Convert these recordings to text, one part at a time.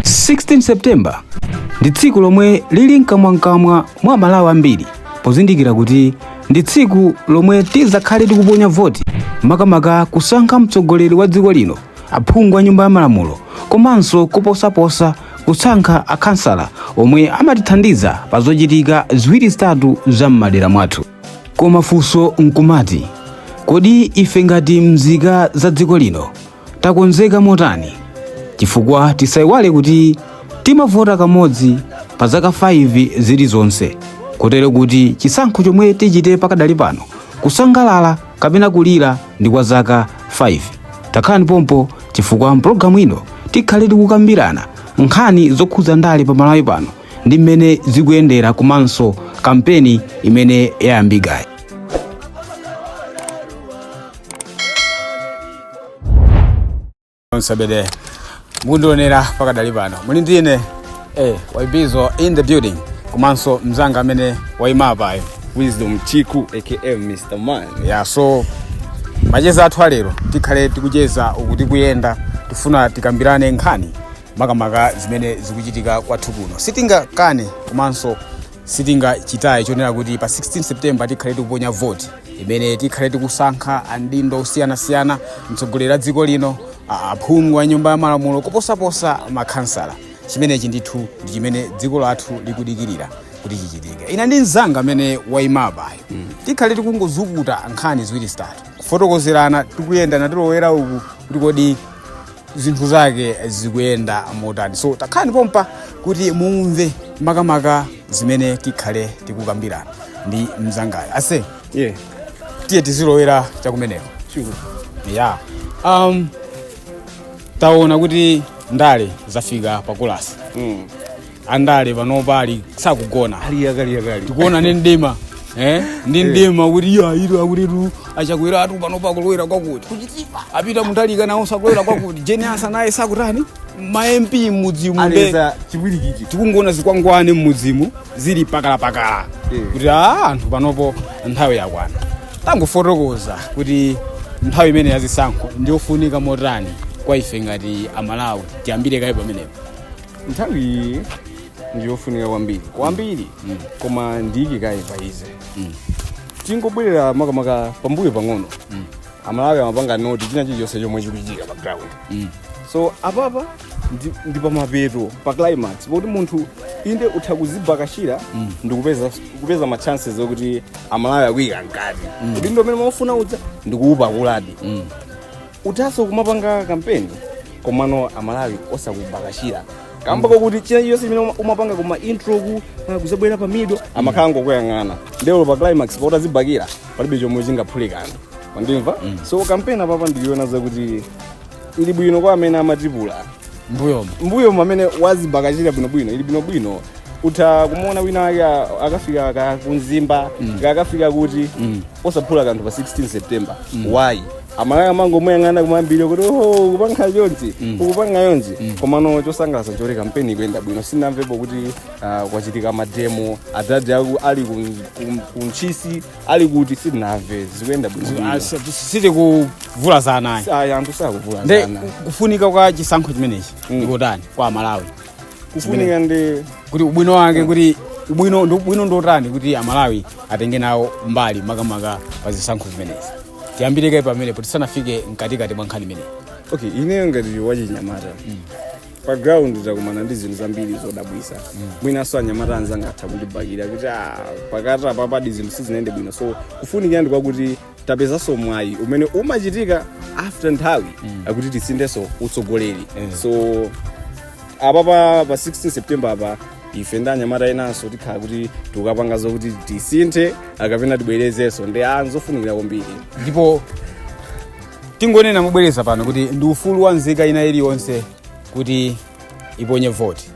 16 september ndi tsiku lomwe lili mkamwamkamwa mwa amalawi ambiri pozindikira kuti ndi tsiku lomwe tizakhale tikuponya voti makamaka kusankha mtsogoleri wa dziko lino aphungu a nyumba ya malamulo komanso kuposaposa kusankha akhansala omwe amatithandiza pa zochitika ziwiri zitatu za m'madera mwathu koma funso nkumati kodi ife ngati mzika za dziko lino takonzeka motani chifukwa tisaiwale kuti timavota kamodzi pa zaka 5 zilizonse kotero kuti chisankho chomwe tichite pakadali pano kusangalala kapena kulira ndi kwa zaka 5 takhalani pompo chifukwa mpulogalamu ino tikhale tikukambirana nkhani zokhudza ndale pa malawi pano ndi mmene zikuyendera komanso kampeni imene yayambikayi onsabede mukundionera pakadali pano muli ndi ine eh, waibizo in the building komanso mzanga amene waima apayo wisdom chiku aka mr man Yeah, so macheza athu alero tikhale tikucheza uku tikuyenda tifuna tikambirane nkhani makamaka zimene zikuchitika kwathu kuno sitingakane komanso sitingachitenso chonena kuti pa 16 september tikhale tikuponya voti imene tikhale tikusankha adindo osiyanasiyana mtsogoleri wa dziko lino a- aphungu a nyumba ya malamulo kuposaposa makhansala chimenechi ndithu ndi chimene dziko lathu likudikirira kuti chichitike ine ndi mzanga amene wayimapayo tikhale tikungozukuta nkhani ziwiri zitatu kufotokozerana tikuyenda tikulowera uku kuti kodi zinthu zake zikuyenda motani so takhalani pompa kuti mumve makamaka zimene tikhale tikukambirana ndi mzangayo ase Yeah, tiye tizilowera chakumeneko sure. Yeah, um, taona kuti ndale zafika pakulasi Mm. andale panopa ali sakugona ali yakaliyakali tikuona ndi mdima eh? ndi mdima kuti iyo ayi lero akutitu achakwera atu panopa akulowera kwakuti kuchitipa apeter mutalika nawo akulowera kwakuti jane ansah naye sakutani ma mp mmudzimu mbwee ali pa chipwirikiti tikungoona zikwangwani mmudzimu zili mpakalampakala Eh. kuti anthu panopo nthawi yakwana tangofotokoza kuti nthawi imene yazisankho ndiyofunika motani kwa ife ngati amalawi tiyambire kaye pamenepo nthawi iyi ndiyofunika kwambiri kwambiri koma ndiyike kaye pa izi tingobwerera makamaka pambuyo pang'ono amalawi amapanga note china chilichonse chomwe chikuchitika pa ground so apapa ndi- ndi pamapeto pa climax poti munthu inde utha kuzibakira ndikupeza kupeza ma chances okuti amalawi akuyika mkati kuti ndi amene mumafuna udza ndikuupakuladi utatso kumapanga kampeni komano amalawi osakubakira kamba kokuti china chiyonse chimene uma- umapanga kuma intro ku ah, kuzabwera pa middle amakhala akungokuyang'ana nde olo pa climax poti azibakira palibe chomwe chingaphule kanthu pandimva so kampeni apapa ndikuiona zakuti ili bwino kwa amene amatipula mbuyomo mbuyo mamene azibakira bwinobwino ili bwinobwino utha kumuona wina wake a- akafika ka ku mzimba akafika kuti osaphula kanthu pa 16 september why amalawi amangomuyang'ana kumambiri kuti oho kupanga chonchi ukupanga chonchi komano chosangalatsa nchoti kampeni ikuyenda bwino sinamvepo kuti ah, kwachitika mademo adadi aku ali ku- ku- ku ntchisi ali kuti sindinamve zikuyenda bwino siti kuvula za anayi ayi anthu sakuvula nde zana kufunika kwa chisankho chimenechi Mm. ndi kotani kwa amalawi kufunika ndi kuti ubwino wake kuti ubwino ndi ubwino ndotani kuti amalawi atenge nawo mbali makamaka pa zisankho zimenezi tiyambire kaye pamenepo tisanafike mkatikati mwa nkhani imeneyi okay ineyo ngati wachinyamata pa ground takumana ndi zinthu zambiri zodabwisa mwinanso anyamata anzanga atha kundibakira kuti "Ah, pakati apapadi zinthu sizinayende bwino so kufunikira ndi kwakuti tapezanso mwayi umene umachitika after nthawi akuti tisinthenso utsogoleri so apa pa pa 16 september apa ife ndi anyamata enanso tikhala kuti tikukapanga zokuti tisinthe kapena tibwerezenso nde nzofunikira kwambiri ndipo tingonena mobwereza pano kuti ndi ufulu wa nzika ina iliyonse kuti iponye voti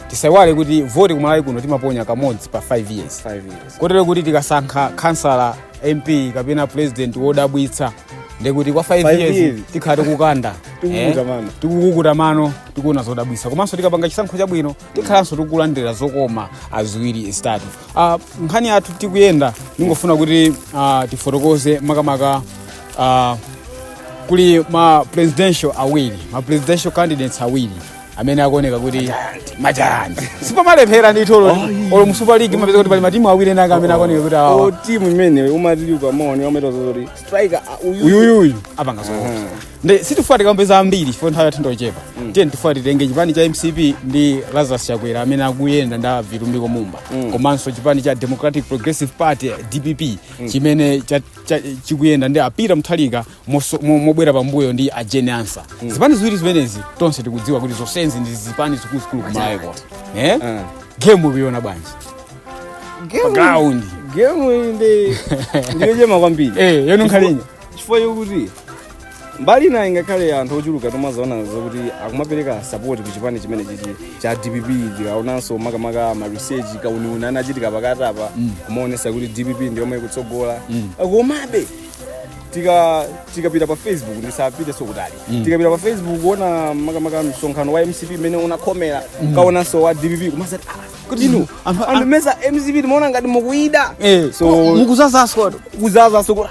tisaiwale kuti voti kumalawi kuno timaponya kamodzi pa 5 years Five years. kotero kuti tikasankha khansala mp kapena president wodabwitsa ndekuti kwa 5 Five years years. tikhala tikukanda Tikukukuta Eh, mano. tikukukuta mano tikuona zodabwitsa komanso tikapanga chisankho chabwino tikhalanso tikulandira zokoma ziwiri zitatu Ah, nkhani yathu tikuyenda ndingofuna kuti ah, tifotokoze makamaka ah, kuli ma presidential awiri ma presidential candidates awiri amene akuoneka kuti majayanti sipamalephera ndithu olo olo mu super league umapeza kuti pali matimu awiri enaka amene akuoneka kuti awawa o timu imene umati uli pamaoni wameta zoti striker ah, uyu uyuyuyu apanga zoopsa nde sitifuna kuti tikambe zambiri chifukwa nthawi yathu ndochepa tiyeni tifuna titenge chipani cha mcp ndi lazarus chakwera amene akuyenda ndi vitumbiko mumba komanso chipani cha democratic progressive party dpp chimene cha- cha- chikuyenda ndi a peter mutharika moso- mo- mobwera pambuyo ndi a jane ansah zipani ziwiri zimenezi tonse tikudziwa kuti zonsezi ndi zipani zikuluzikulu kumalawi kuno eh? gemu ukuiona bwanji ground gemu ndi ndiyochema kwambiri eh, yonunkhalinyi chifukwa chokuti mbali ina ingakhale anthu ochuluka timazaona zokuti akumapereka sapoti ku chipani chimene chichi cha dpp tikaonanso makamaka maresearch kauniuni anachitika pakati apa kumaonesa kuti dpp ndi yomwe ikutsogola komabe tika tikapita pa facebook ndisapite sokutali tikapita pa facebook kuona makamaka msonkhano wa mcp imene unakhomera tikaonanso wa dpp kumazati ah, kuti inu Anthu- anthu mesa mcp timaona ngati mukuida so mukuzazaso kuzaza sokoti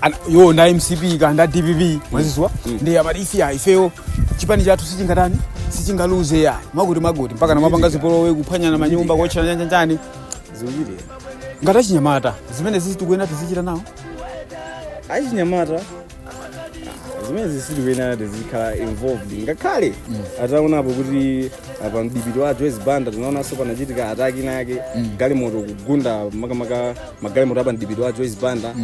Ana- yo nda mcp kaya nda dpp mwaziwa nde amati ife ya ifeyo chipani chathu sichingatani sichingaluze ya makuti makuti mpaka namapanga zipolowe kuphwanyana manyumba kuotchana nyanjanjani zikuchitika ngati achinyamata zimenezi sitikuyenera tizichita nawo achinyamata zimenezi sitikuyenera tizikhala involved ngakhale ataonapo kuti apa mdipiti wa joyce banda tinaonanso panachitika ataki ina yake galimoto kugunda makamaka magalimoto apa mdipiti wa joyce banda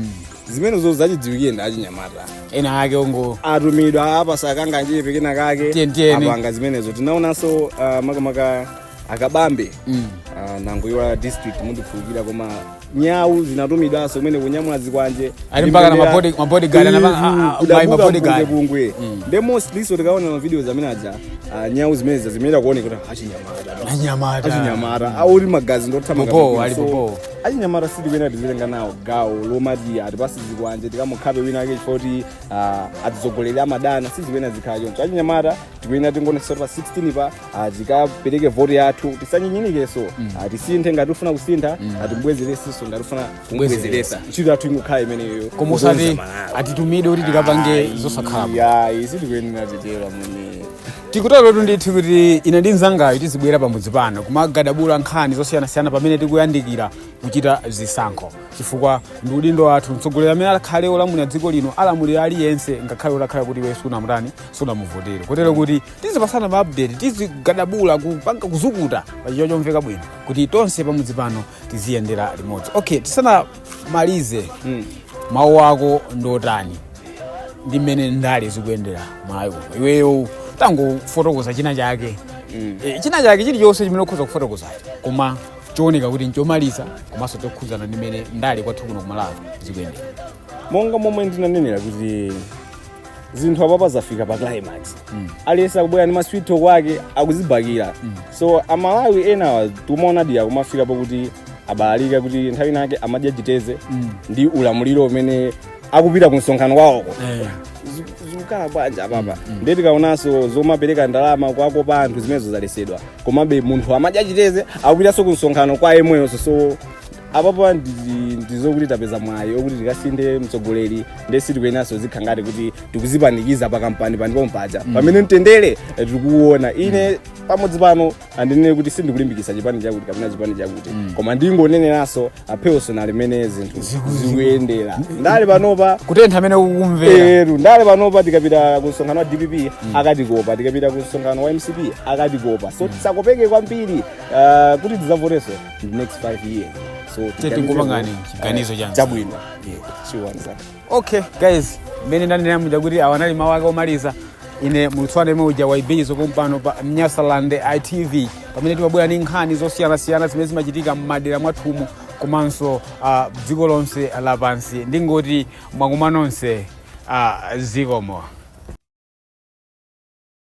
zimenezo zachidziwikire ndi achinyamata ena ake ongo atumidwa apasa kanganyepe kena kake Tiyeni, tiyeni. apanga zimenezo tinaonanso uh, makamaka akabambe Mm. uh, nangoiwala district mundikhululukira koma nyawu zinatumidwanso kumene kunyamula zikwanje Ali mpaka na mabody- mabodyguard, ana- a- a- mai mabodyguard. kumene nde mostlynso tikaona mavideos amene aja ah, nyawu zimenezo zimene akuoneka kuti achinyamata Anyamata. achinyamata aulimagazi ndothamanga Bobo, ali bobo. achinyamata sitikuyenera tizitenga nawo gawo lomati atipase zikwanje tikamukhape wina ake chifukwa kuti ah, atsogoleri amadana sizikuyenera zikhala choncho achinyamata tikuyenera tingoonesa pa 16 pa ah, tikapereke voti yathu tisanyinyirikeso Ah, tisinthe ngati ufuna kusintha timubwezeresenso ngati ufuna kumbwezeresa ntchito yathu ingokhala imeneyo koma usati Kukonza Malawi. atitumide kuti tikapange zosakhala bwino ayi sitikuyenera titero mmene tikuterotu ndithu kuti ine ndi mzangayo tizibwera pamudzi pano kumagadabula nkhani zosiyanasiyana pamene tikuyandikira kuchita zisankho chifukwa ndi udindo wathu mtsogoleri amene akhale olamulira dziko lino alamulira aliyense ngakhale utakhala kuti iwe sunamutani sunamuvotere kotero kuti tizipasana ma update tizigadabula kupanga kuzukuta pachichewa chomveka bwino kuti tonse pamudzi pano tiziyendera limodzi okay tisanamalize mm. mawu ako ndotani ndi mmene ndale zikuyendera mmalawi muno iweyo tangofotokoza china chake mm. e, china chake chilichonse chimene ukhoza kufotokoza koma chooneka kuti nchomaliza komanso chokhuzana ndi mmene ndale kwathu kuno kumalawi zikuyendera monga momwe ndinanenera kuti zinthu apapa zafika pa climax aliyense akubwera ndi masweet talk ake akuzibakira so amalawi enawa timaonadi akumafika pokuti abalalika kuti nthawi inake amadya chiteze ndi ulamuliro umene akupita ku msonkhano kwawoko Eh. Zi- zikukhala bwanja apapa ndiye tikaonanso zomapereka ndalama kuwakopa anthu zimenezo zalesedwa komabe munthu amadya chiteze akupitanso ku msonkhano kwa yemweyonso so apapa ndi- ndizokuti tapeza mwayi okuti tikasinthe mtsogoleri nde sitikuyenaso zikhala ngati kuti tikuzipanikiza pa kampanipani pompaja pamene mtendere eh, tikuwuona ine pamodzi pano sindinene kuti sindikulimbikisa chipani chakuti kapena chipani chakuti koma ndingoneneranso apheso nalimene zinthu zikuyendera ndale panopa kutentha amene ukumvera eru ndale panopa tikapita ku msonkhano wa dpp akatikopa tikapita ku msonkhano wa mcp akatikopa so tisakopeke kwambiri ah, kuti tidzavoteso in the next 5 years so tingopangani chiganizo chanu chabwino yeah sure one sir okay guys mmene ndanena muja kuti awa anali mawu ake omaliza ine muulutsi wanu yemwe uja Waibizo pompano pa Nyasaland TV pamene timabwera ndi nkhani zosiyanasiyana zimene zimachitika m'madera mwathumu komanso ah, dziko lonse lapansi ndingoti mwakumva nonse ah, zikomo